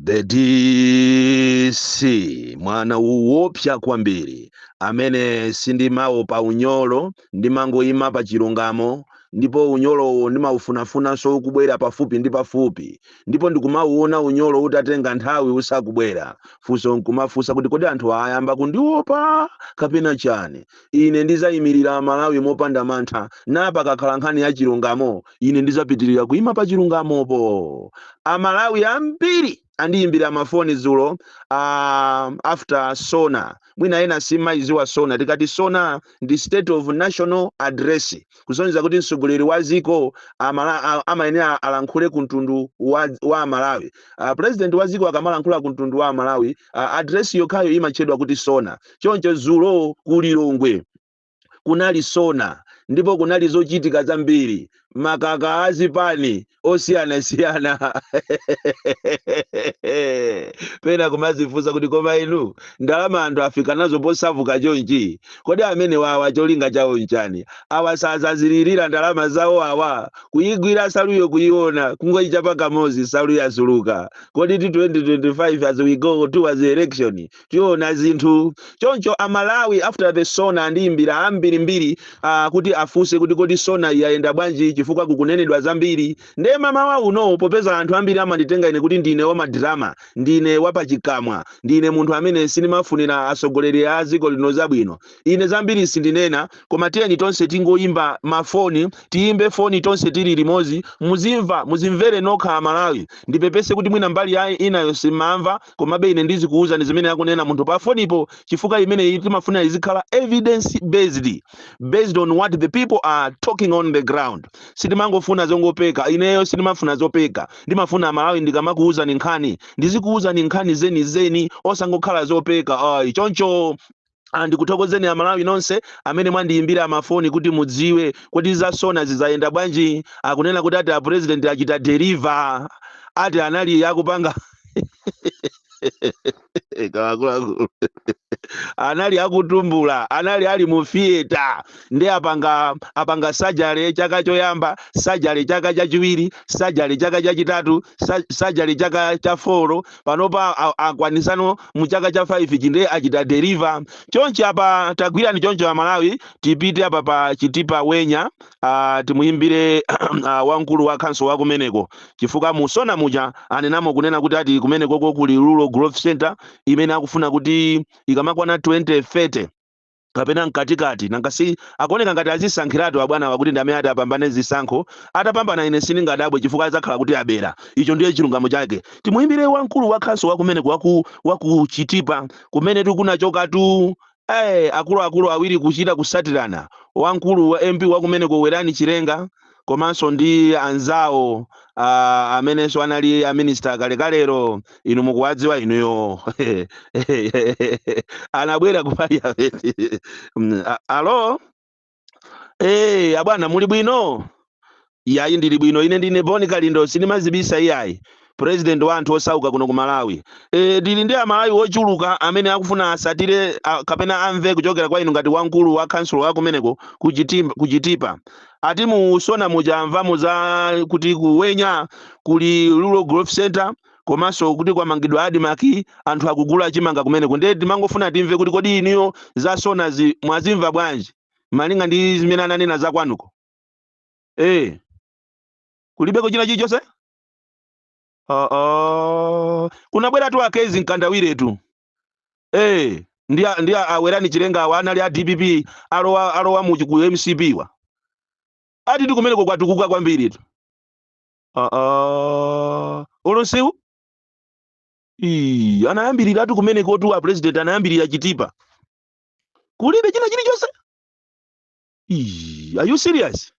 the dc mwana woopsa kwambiri amene sindimawopa unyolo ndimangoyima pa chilungamo ndipo unyolowo ndimaufunafunanso kubwera pafupi ndi pafupi ndipo ndikumauona unyolo utatenga nthawi usakubwera funso nkumafunsa kuti kodi anthu ayamba kundiopa kapena chani ine ndizayimirira amalawi mopanda mantha na pakakhala nkhani ya chilungamo ine ndizapitilira kuima pa chilungamopo amalawi ambiri andiyimbira mafoni dzulo uh, after sona mwina ena simumaiziwa sona tikati sona ndi state of national address kusonyeza kuti mtsogoleri wa ziko amala- a- amayenera alankhule ku mtundu wa amalawi uh, president wa ziko akamalankhula ku mtundu wa amalawi uh, address yokhayo imatchedwa kuti sona choncho dzulo ku lilongwe kunali sona ndipo kunali zochitika zambiri makamaka a zipani osiyanasiyana pena kumazifunsa kuti koma inu ndalama anthu afika nazo posavuka chonchi kodi amene wawa cholinga chawo nchani awa sazazilirira ndalama zawo awa kuyigwira saluyo kuyiona kungoyichapa kamozi saluyo yasuluka kodi ti 2025 as we go towards the election tiona zinthu choncho amalawi after the sona andiyimbira ambirimbiri uh, kuti afunse kuti kodi sona iyi yayenda bwanji chifukwa kukunenedwa zambiri ndiye mamawa uno popeza anthu ambiri amanditenga ine kuti ndine wamadrama ndine wapachikamwa ndine munthu amene sindimafunira atsogoleri a dziko lino zabwino ine zambiri sindinena koma tiyeni tonse tingoyimba mafoni tiyimbe foni tonse tili limodzi muzimva muzimvere nokha amalawi ndipepese kuti mwina mbali ya inayo simumamva Komabe ine ndizikuuzani zimene akunena munthu pa fonipo chifukwa imeneyi timafuna izikhala evidence based based on what the people are talking on the ground. Sitimangofuna zongopeka. Ineyo sindimafuna zopeka. Ndimafuna Amalawi ndikamakuuzani nkhani ndizikuuzani nkhani zenizeni osangokhala zopeka ayi. Choncho Ah, ndikuthokozeni amalawi nonse amene mwandiyimbira mafoni kuti mudziwe kuti zasona zayenda bwanji akunena kuti ati apurezidenti achita deriva ati anali akupanga kalikonse anali akutumbula anali ali mu fiyeta nde apanga apanga sajale chaka choyamba sajale chaka chachiwiri sajale chaka chachitatu sa- sajale chaka cha foro panopa a- akwanisano mu chaka cha 5 chi ndiye achita deliver chonchi apa tagwirani choncho amalawi tipite apa pa chitipa wenya ah, timuyimbire ah, wamkulu wa khansolo wa kumeneko chifukwa mu sona muja anenamo kunena kuti ati kumenekoko kuli rural growth center imene akufuna kuti ikamakwana 2030 kapena mkatikati nangasi akuoneka ngati adzisankhiratu abwanawa kuti ndi amene ati apambane zisankho atapambana ine sindingadabwe chifukwa adzakhala kuti abera icho ndiye chilungamo chake timuyimbire wamkulu wa khansolo wakumeneko waku Chitipa kumene tikunachokatu eh akuluakulu awiri kuchita kusatirana wamkulu wa mp wakumeneko Werani Chilenga komanso ndi anzawo ah, amenenso anali aminista kalekalero inu mukuwadziwa inuyo anabwera ku parliament Mm, a- alo Eh, abwana muli bwino? Yayi ndili bwino. Ine ndine Bon Kalindo, sindimadzibisa iyayi. President wa anthu osauka kuno ku Malawi. E, tili ndi Amalawi ochuluka amene akufuna asatire a, kapena amve kuchokera kwa inu ngati wamkulu wa khansulo wa kumeneko ku Chitim- ku Chitipa. Ati mu Sona muja amvamo za kuti ku Wenya kuli Rural Growth Center komanso kuti kwamangidwa Admarc anthu akugula chimanga kumeneko. Ndiye timangofuna timve kuti kodi inuyo za Sonazi mwazimva bwanji malinga ndi zimene ananena za kwanuko. E, kulibeko china chilichonse? oh, oh. kunabweratu a Kezzie Mkandawiretu eh ndi a- ndi a- a Werani Chilenga awa anali a dpp alowa alowa mu ku mcp wa ati tikumeneko kwatukuka kwambiritu oh, oh. olo nsewu Ii, anayambirira ati kumenekotu a president anayambirira Chitipa kulibe china chilichonse Ii, are you serious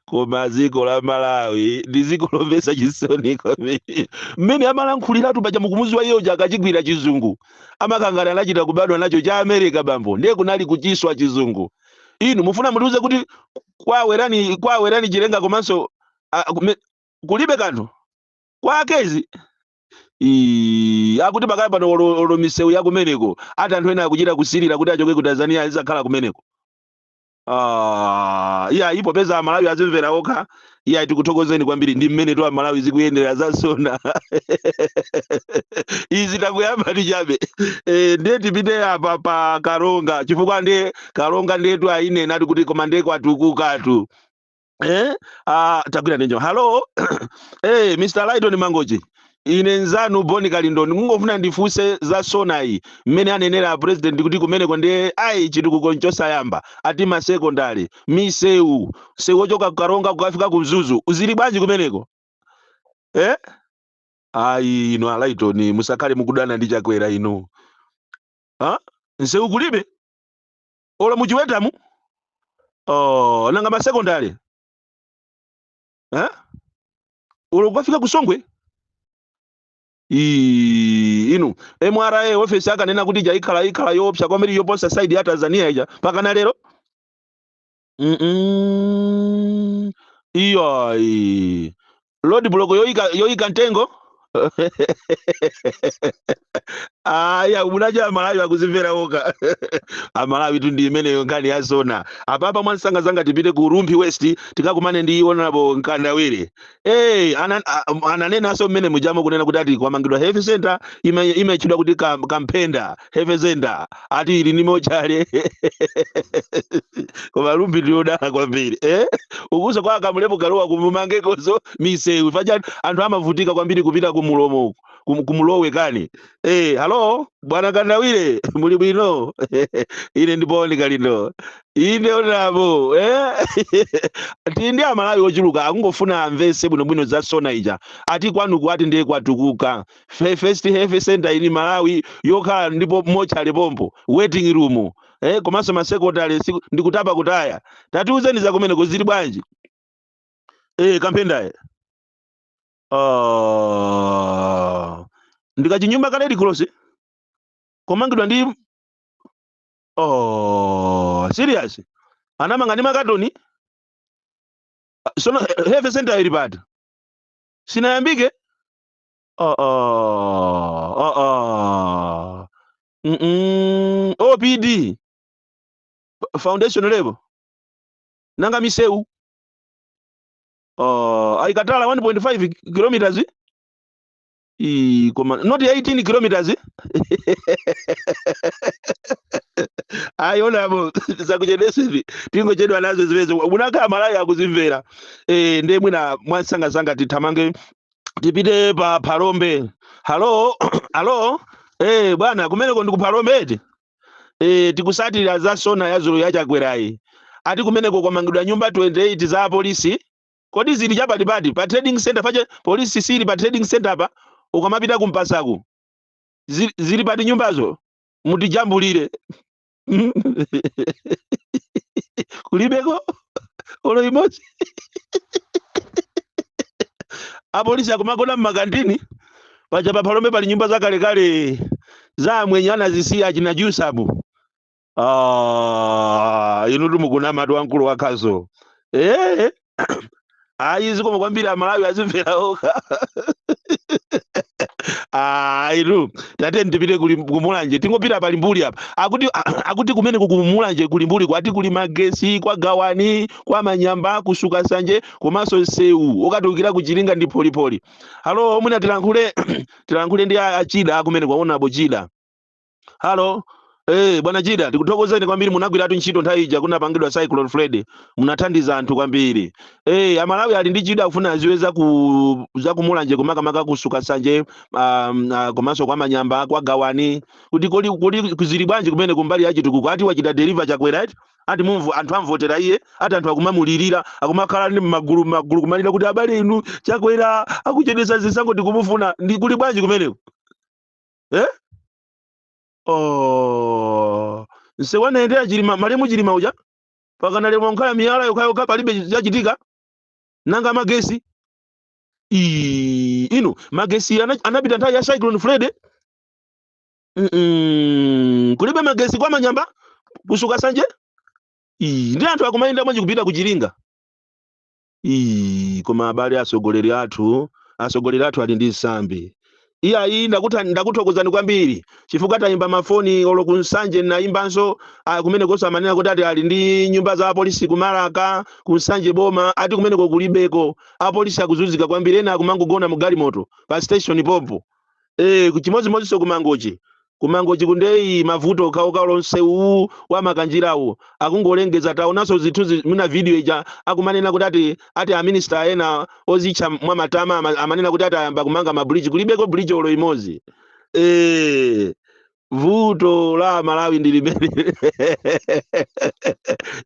koma dziko la malawi ndi dziko lomvetsa chisoni kwambiri mmene amalankhuliratu paja mukumudziwa iye uja akachigwira chizungu amakhala ngati anachita kubadwa nacho cha america bambo ndiye kunali kuchiswa chizungu inu mufuna mutiuze kuti kwa Werani kwa Werani Chilenga komanso ah, kume- kulibe kanthu kwa Kezzie Ii, akuti pakali pano olo olo misewu ya kumeneko ati anthu ena akuchita kusirira kuti achoke ku tanzania azidzakhala kumeneko Ah, iya iih popeza amalawi azimvera okha iya tikuthokozeni kwambiri ndi mmenetu Amalawi zikuyendera za Sona izi takuyamba ndi chabe e, ndiye tipite apa pa karonga chifukwa ndiye karonga ndiyetu ayinena ati kuti koma ndiye kwatukukatu eh ah tagwira ninjo hello eh Mr. Lighton Mangochi ine nzanu Bon Kalindo ndikungofuna ndifunse za Sonayi mmene anenera president kuti kumeneko ndiye ayi chitukuko nchosayamba ati masekondari misewu msewu ochoka kukaronga kukafika ku mzuzu zili bwanji kumeneko eh ayi inu a Lighton musakhale mukudana ndi Chakwera inu ha nsewu kulibe olo muchiwetamu oh, nanga masekondale eh? olo kukafika kusongwe Ii, inu mra ofesi akanena kuti ija ikhala ikhala yoopsa kwambiri yoposa side ya tanzania ija mpakana lero Mm-mm. iyayi road block yoika yoika mtengo aya munaja amalawi akuzimvera okha amalawitu ndi imeneyo nkhani ya sona apapa mwansangasanga tipite ku rumphi west tikakumane ndi honorable mkandawire hey, ana, a- ananenanso mmene mujamo kunena kuti ati kwamangidwa health center ime- imatchedwa kuti kam- kamphenda health center ati ili ni mochale koma rumphi ndi yodala kwambiri eh? ukuso kwa a kamlepo kalua kumumangekoso misewu paja anthu amavutika kwambiri kupita kumulomo uku kum- kumlowe kani eh, halo bwana mkandawire muli bwino ine ndi bon kalindo inde honorable eh? tili ndi amalawi ochuluka akungofuna amvese bwinobwino za sona ija ati kwanuku ati ndiye kwatukuka Fe- first health center in malawi yokhala ndipo mochale pompo waiting room eh, komanso masekondale siku- ndi kutapa kutaya tatiuzeni za kumeneko zili bwanji eh, kamphendaye oh. ndikachinyumba ka red cross komangidwa ndi oh, serious anamanga ndi makatoni sono health center ili pati sinayambike Uh uh uh uh. Mm -mm. OPD foundation level nanga miseu uh, aikatala 1.5 kilometers eh? I, koma not 18 kilometers eh? ayonamo zakuchedesa ivi tingochedwa nazo zimezo unaka malawi akuzimvera eh, nde mwina mwansangasanga tithamange tipite pa phalombe halo halo eh bwana kumeneko ndi ku phalombe eti eh tikusatira za sona ya dzulo ya chakwerayi ati kumeneko kwamangidwa nyumba 28 za apolisi kodi zili chapatipati pa trading center paja polisi ili pa trading center pa ukamapita kumpasaku zili, zili pati nyumbazo mutijambulire kulibeko olo imodzi apolisi akumagona mmakantini paja paphalombe pali nyumba zakalekale za amwenye anazisiya achina jusabu ah, inutu mukunamatu wamkulu wakhazo eh, eh. ayi zikomo kwambiri amalawi azimvera okha aitu tatiyeni tipite kuli kumulanje tingopita pa limbuli apa akuti akuti kumeneko kumulanje ku limbuli kwati kuli magesi kwa gawani kwa manyamba ku sukasanje komanso nsewu okatulukira kuchilinga ndi pholipoli halo mwina tilankhule tilankhule ndi a- achida kumeneko honorable chida halo Eh, bwana Chida, tikuthokozeni kwambiri munagwiratu ntchito nthawi ija kunapangidwa Cyclone Freddy. Munathandiza anthu kwambiri. Eh, Amalawi ali ndi chidwi akufuna aziwe za ku za kumulanje makamaka ku Sukasanje um, uh, komanso kwa manyamba kwa gawani kuti kodi kodi ku- zili bwanji kumene kumbali ya chitukuko ati wachita deliver chakwera ati ati mumvu anthu amvotera iye ati anthu akumamulirira akumakhala ndi magulu magulu kumalira kuti abale inu chakwera akuchedesa zisankho tikumufuna ndi kuli bwanji kumeneko eh? oh. nsewu anayendera chilima malemu chilima uja pakana lero ukhala miyala yokhayokha palibe chachitika nanga magesi Ii, inu magesi ana- anapita nthawi ya cyclone freddy Mm-mm. kulibe magesi kwa manyamba ku Sukasanje Ii, nde anthu akumayenda bwanji kupita ku Chiringa Ii, koma abale atsogoleri athu, atsogoleri athu ali ndi nsambi. Iyayi ndakutha- ndakuthokozani kwambiri chifukwa tayimba mafoni olo ku Nsanje ndinayimbanso ah, kumenekonso amanena kuti ati ali ndi nyumba za apolisi ku Malaka ku Nsanje boma ati kumeneko kulibeko apolisi akuzunzika kwambiri ena akumangogona mu galimoto pa station pompo Eh, chimodzimodzinso kumangochi kumangochiku nde mavuto okhaokha olo nsewu wa makanjirawu akungolengeza taonanso zithunzi mwina video ija akumanena kuti ati ati aminista ena ozitcha mwamatama ama- amanena kuti ati ayamba kumanga mabridge kulibeko bridge olo imodzi eh vuto la amalawi ndi limene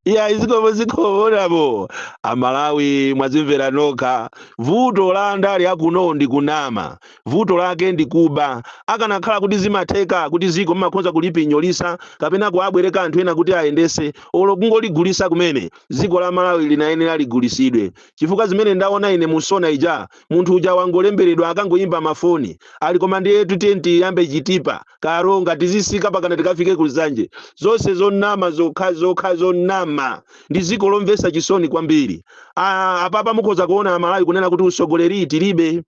iyayi zikomo zikomonamo amalawi mwazimvera nokha vuto la andale akuno ndi kunama vuto lake ndi kuba akanakhala kuti zimatheka kuti ziko mmakhoza kulipinyolisa kapena kuabwereka anthu ena kuti ayendese olo kungoligulisa kumene ziko la malawi linayenera ligulisidwe chifukwa zimene ndaona ine mu SONA ija Munthu uja wangolemberedwa akangoimba ma phone ali koma ndiyetu tiye tiyambe chitipa, karonga, tizisika pakana tikafike ku nsanje. Zonse zonama zokhazokha zonama. Ndi ziko lomvesa chisoni kwambiri. Aaa apapa mukhoza kuona amalawi kunena kuti usogoleri tilibe.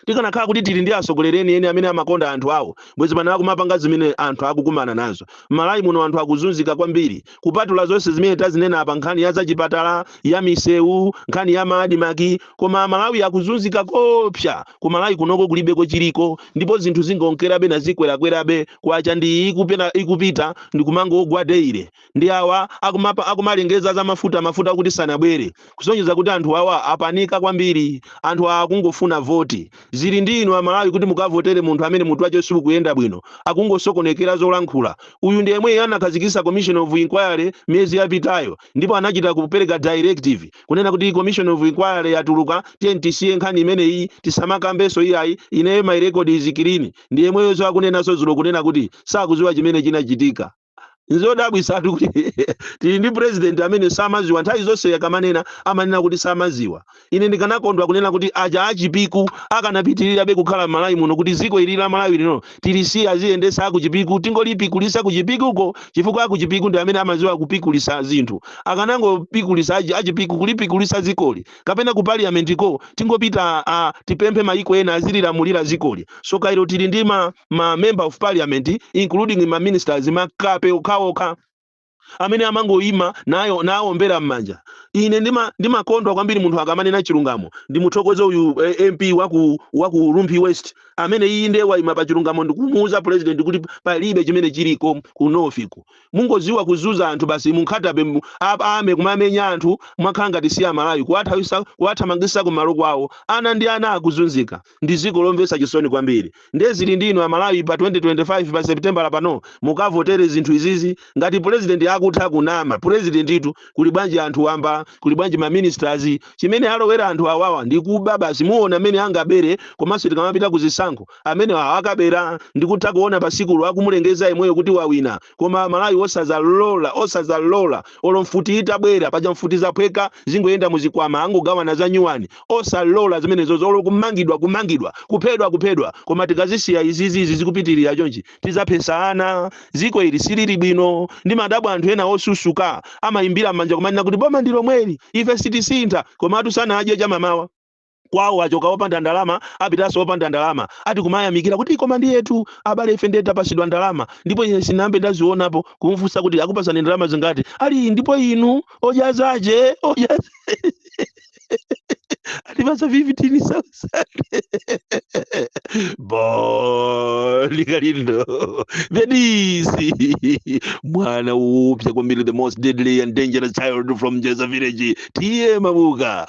Tikanakhala kuti tili ndi asogoleri enieni amene amakonda anthu awo bwezi pano akumapanga zimene anthu akukumana nazo. Mmalawi muno anthu akuzunzika kwambiri. kupatula zonse zimene tazinena apa nkhani ya zachipatala ya misewu nkhani ya maadimaki koma amalawi akuzunzika koopsa ku malawi kunoko kulibeko chiliko ndipo zinthu zingonkerabe nazikwerakwerabe kwacha ndi iyi ikupena- ikupita ndi kumangogwa daily ndi awa akumapa- akumalengeza za mafuta mafuta akuti sanabwere kusonyeza kuti anthu awa apanika kwambiri. Anthu awa akungofuna voti. Zili ndi inu Amalawi kuti mukavotere munthu amene mutu wache sukuyenda bwino. Akungosokonekera zolankhula. Uyu ndi yemweyi anakhazikitsa commission of inquiry miyezi yapitayo ndipo anachita kupereka directive kunena kuti commission of inquiry yatuluka tiyeni tisiye nkhani imeneyi tisamakambenso iyayi ineyo my record is clean. Ndi yemweyoso akunenanso dzulo kunena kuti sakudziwa chimene chinachitika. nzodabwisa kuti tili ndi president amene samaziwa nthawi zonse akamanena amanena kuti samaziwa ine ndikanakondwa kunena kuti aja achipiku akanapitirirabe kukhala m'malawi muno kuti ziko ili la malawi lino tilisiye aziyendesa akuchipiku tingolipikulisa kuchipikuko chifukwa akuchipiku ndi amene amaziwa kupikulisa zinthu akanangopikulisa aji- achipiku kulipikulisa zikoli kapena ku parliament ko tingopita ah, tipemphe mayiko ena azililamulira zikoli so kairo tili ndi ma ma member of parliament including ma ministers makape okhaokha amene amangoyima nawombera m'manja ine ndimakondwa kwambiri munthu akamanena chilungamo ndimuthokoze uyu eh, mp waku rumphi west amene iye ndiye wayima pa chilungamo ndikumuuza president kuti palibe chimene chiliko ku north uku mungoziwa kuzunza anthu basi munkhatabe mu- ap- ame kumamenya anthu mwakhala ngati si amalawi kuwathamangisa kumalo kwawo ana ndi ana akuzunzika ndi dziko lomvetsa chisoni kwambiri ndiye zili ndi inu amalawi pa 2025 pa september pano mukavotere zinthu izizi ngati president akutha kunama presidentitu kuli bwanji anthu wamba kuli bwanji ma ministers chimene alowera anthu awawa ndi kuba basi muona mmene angabere komanso tikamapita ku zisankho amene awa akabera ndikutha kuona pasikulo akumulengeza yemweyo kuti wawina koma amalawi osazalola osazalola olo mfuti itabwera paja mfuti zaphweka zingoyenda muzikwama angogawana za nyuwani osalola zimenezozo olo kumangidwa kumangidwa kuphedwa kuphedwa koma tikazisiya izizi izi zikupitirira chonchi tizaphesana ziko ili silili bwino ndimadabwa anthu ena osusuka amawombera m'manja kumanena kuti boma ndi lomweli ife sitisintha komatu sanadye chamamawa kwawo achoka opanda ndalama apitanso opanda ndalama ati kumayamikira kuti koma ndiyetu abale ife ndiye tapasidwa ndalama ndipo ine sinambe ndazionapo kumfunsa kuti akupasani ndalama zingati ali ndipo inu ojazaje atipasa 15000 Bon Kalindo the DC mwana oopsa kwambiri the most deadly and dangerous child from jeza village tiye mabuka